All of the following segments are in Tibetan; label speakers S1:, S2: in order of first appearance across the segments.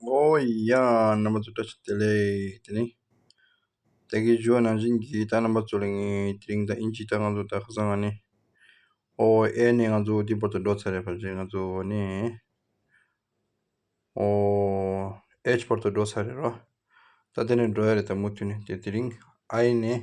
S1: ངོ་བོ་ཡི་ཡང་རྣམ་པ་གཙོ་བཀྲ་ཤིས་བདེ་ལེགས་དེ་ནི། བདེ་དགེའི་རྒྱུ་བ་ནང་བཞིན་གྱི་རྟགས་རྣམ་པ་གཙོ་ལས་ངེས་དེ་རིང་དང་དབྱིན་ཇིའི་རྟགས་ང་ཚོ་ལྟར་ཁ་སང་ང་ནི་ཨོ་ཨེ་ནས་ང་ཚོ་འདི་བོར་དུ་འགྲོ་ཚར་རེད་བར་ཆད་ང་ཚོ་ཨོ་ནས་ཨོ་ཨེ་བོར་དུ་འགྲོ་ཚར་རེད་རོ། ད་དེ་ནས་འགྲོ་ཡ་རེད་ད་མུ་མཐུད་ནས་དེ་དེ་རིང་ཨ་ཨེ་ནས།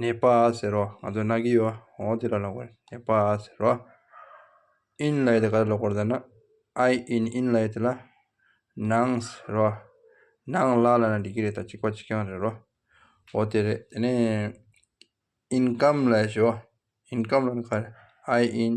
S1: ནད་པ་ཟེར་རོ། ང་ཚོ་ནག་གི་ཡོད། ཨོ་དེ་ལ་ལོག་པར་ནད་པ་ཟེར་རོ། ཨིན་ལ་ཡོད་དེ་ག་ལ་ལོག་པར་ཟེར་ན། ཨའི་ཨིན་ཨིན་ལ་ཡོད་དེ་ལ། ནང་ཟེར་རོ། ནང་ལ་ལ་ན་འགྲིག་གི་རེད་ད་ཅིག་པ་ཅིག་ཀྱང་རེད་རོ། ཨོ་དེ་རེད། དེ་ནས་ཨིན་ཀམ་ལ་ཞུ། ཨིན་ཀམ་ལ་ནི་ག་རེད། ཨའི་ཨིན།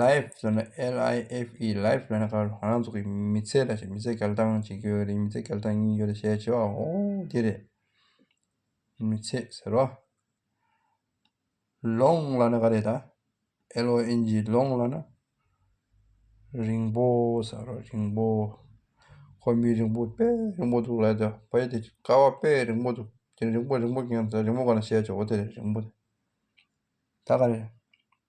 S1: Life ཟེར་ན LIFE Life ཟེར་ན་ཁ་རང་རང་ཚོ་གི་མི་ཚེ་ལ་མི་ཚེ་གལ་གཏང་གཅིག་ཡོད་རེད་མི་ཚེ་གལ་གཏང་གཉིས་ཡོད་རེད་ཞེས་བྱ་བའོ་དེ་རེད། མི་ཚེ་ཟེར་བ། Long ལ་ནི་ག་རེད་ད། LONG Long ལ་ན། རིང་པོ་ཟེར་བ་རིང་པོ། ཁོ་མི་རིང་པོ་དཔེ་རིང་པོ་འདུག་ལབ་ཀྱང་བོད་ཡིག་དེ་ཀ་བ་དཔེ་རིང་པོ་འདུག་དེ་རིང་པོ་རིང་པོ་གང་ཟེར་རིང་པོ་ག་ནས་བཤད་བྱའོ་དེ་རེད་རིང་པོ་དེ། ད་ག་རེད།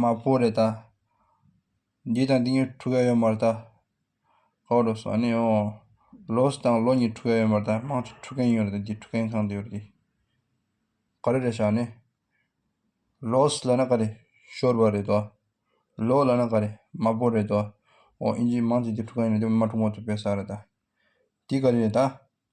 S1: མ་བོ་རེད་ད། འདི་དང་འདི་གཉིས་འཁྲུག་ཡ་ཡོད་མ་རེད་ད། ཧོ་རོ་སོ་ནི་ཨོ། ལོ་སི་དང་ལོ་གཉིས་འཁྲུག་ཡ་ཡོད་མ་རེད་ད་དམངས་གཙོ་འཁྲུག་མཁན་ཡོད་རེད་ད་འདི་འཁྲུག་མཁན་གང་དེ་ཡོད་རེད་ད། ག་རེ་རེད་ཤག་ནི། ལོ་སི་ལ་ན་ག་རེ་ཤོར་བ་རེད་ད། ལོ་ལ་ན་ག་རེ་མ་བོ་རེད་ད། ཨོ་ཨིན་ཇིའི་དམངས་གཙོ་འདི་འཁྲུག་མཁན་ཡོད་རེད་ད་འདི་མ་འཁྲུག་མ་ཐུབ་པའི་ས་རེད་ད། འདི་ག་རེ་རེད་ད།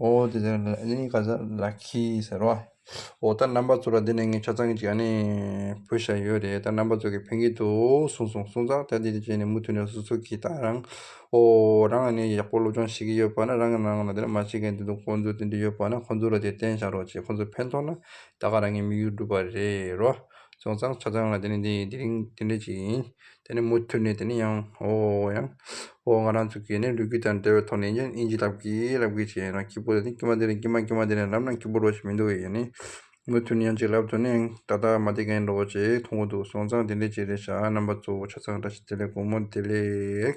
S1: ཨོ་དེ་ལྟར་ན་ནི་ག་ས་ལ་ཁི་ཟེར་རོ། ཨོ་ད་རྣམ་པ་ཚོ་ལ་འདི་ནས་ངས་ཆ་ཚང་གཅིག་ཨ་ནི་བོས་ཤག་ཡོད་རེད་ད་རྣམ་པ་ཚོ་གི་ཕན་གི་འདུག་གསུངས་སོང་གསུངས་ཙང་ད་འདི་འདྲ་བྱས་ནས་མུ་མཐུད་ནས་སོ་སོ་གི་ད་རང་ཨོ་རང་ཨ་ནི་ཡག་པོ་སློབ་སྦྱོང་བྱེད་ཀྱི་ཡོད་པ་ན་རང་གི་ནང་ལ་འདི་འདྲ་མ་བྱེད་མཁན་དེ་འདུག་ཁོང་ཚོས་དེ་འདྲ་ཡོད་པ་ན་ཁོང་ཚོ་ལ་དེ་བསྟན་བཞག་རོགས་ཅེས་ཁོང་ཚོ་ཕན་ཐོག་ན་ད་ག་རང་གི་མིག་ཡོར་འགྲུབ་པ་རེད་རོ། སོང་ཙང་ཆ་ཚང་ལ་འདི་ནི་འདི་རིང་འདི་འདྲ་ཅིག་ཡིན། དེ་ནས་མུ་མཐུད་ནས་དེ་ནས་ཡང་ཧོ་ཡང་ཧོ་ང་རང་ཚོ་གིས་ནི་ལུས་དཀྱུས་དང་འབྲེལ་བའི་ཐོག་ནས་ཡིན་ཀྱང་དབྱིན་ཇི་ལབ་གི་ལབ་གི་བྱས་ཡིན་ན་ཁྱི་པོ་དེ་ནི་དཀྱུས་མ་དེ་ནས་དཀྱུས་མ་དཀྱུས་མ་དེ་ནས་ལབ་ན་ཁྱི་པོ་རོ་ཞིག་མི་འདུག་ཡིན་ནི་མུ་མཐུད་ནས་ཡང་ཅིག་ལབ་དུ་ནི་ད་ལྟ་མ་བསྡད་མཁན་རོ་ཅེས་མཐོང་གི་འདུག་སོང་ཙང་དེ་འདྲའི་ཅིག་རེད་བྱ་རྣམ་པ་གཙོ་བོ་ཆ་ཚང་འདྲ་ཞིག་དེ་ལས་དགོང་མོ་དེ་ལས།